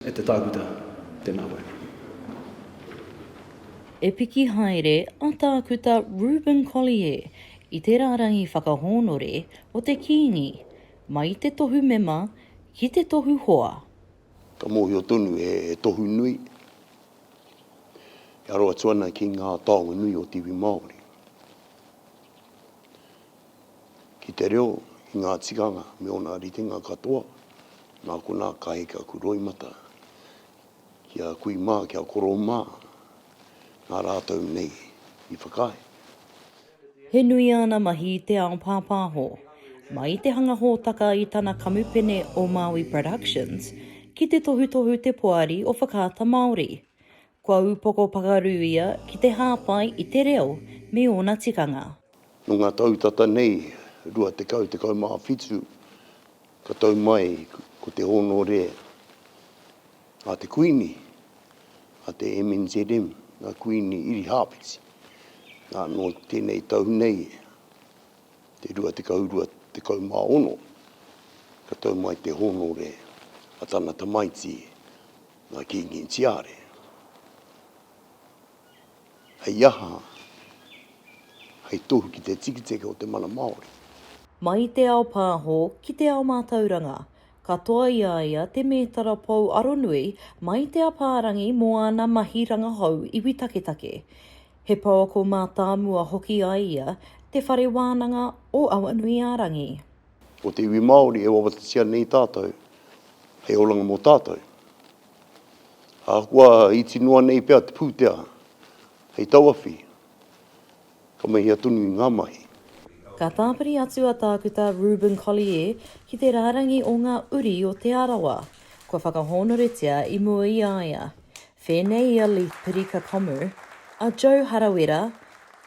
E te tākuta, tēnā koe. E piki haere a Tākuta Reuben Collier i te rārangi whakahōnore o te Kīngi, mai te tohu mema ki te tohu hoa. Ka mōhio tonu he tohu nui e aro atu ana ki ngā taonga nui o te iwi Māori. ki te reo, ki ngā tikanga me ōna ritenga katoa, nā konā ka heke aku roimata ki a kui mā, ki a koro mā, nā rātou nei i whakaae. He nui āna mahi i te ao pāpāho, mai te hanga hōtaka i tana kamupene o Maui Productions, ki te tohutohu te poari o Whakaata Māori. Kua upoko pakaru ia ki te hāpai i te reo me ōna tikanga. Nō ngā tau tata nei, 20, 17, ka tau mai ko te hōnore a te Kuini, a te MNZM, a Kuini Irihāwhiti. Nā, nō tēnei tau nei, te 22, 16, ka tau mai te hōnore a tana tamaiti, Ngā Kīngi Tiare. Hei aha? Hei tohu ki te tikitiki o te mana Māori. Mai i te ao pāho ki te ao mātauranga. Katoa i a ia te mētara pou aronui mai te apārangi mō āna mahi rangahou iwi taketake. He pouako mātāmua hoki a ia, Te Whare Wānanga o Awanuiārangi. Ko te iwi Māori e wawatatia nei tātou hei oranga mō tātou. Ahakoa iti noa nei pea te pūtea hei tauawhi, ka mahia tonu i ngā mahi. Ka tāpiri atu a Tākuta Reuben Collier ki te rārangi o ngā uri o Te Arawa kua whakahōnoretia i mua i a ia. Whēnei i a Leith Pirikakamu, a Joe Harawira,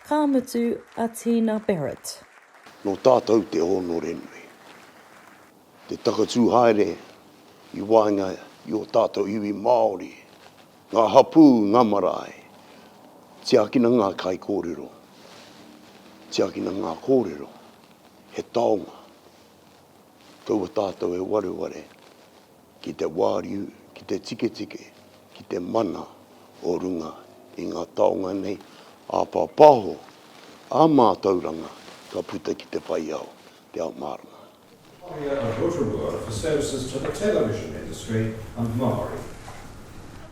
ka mutu a Tina Barrett. Nō tātou te hōnore nui, te takatū haere i waenga i ō tātou iwi Māori, ngā hapū, ngā marae. Tiakina ngā kaikōrero, tiakina ngā kōrero, he taonga. Kaua tātou e wareware. ki te wāriu, ki te tiketike, ki te mana o runga i ngā taonga nei āpāpāho ā mātauranga ka puta ki te whai ao, te ao mārama. Whakaharia a Rotorua for services to the television industry and Māori.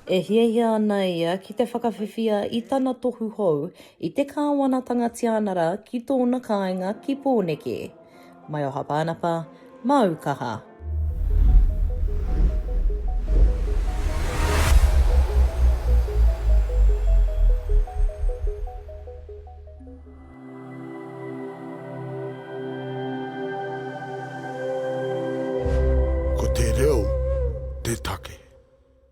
E hiahia ana ia ki te whakawhiwhia i tana tohu hou i te Kāwanatanga Tianara ki tōna kāinga ki Pōneke. Mai oha Pānapa, māu kaha. Ko te reo te take.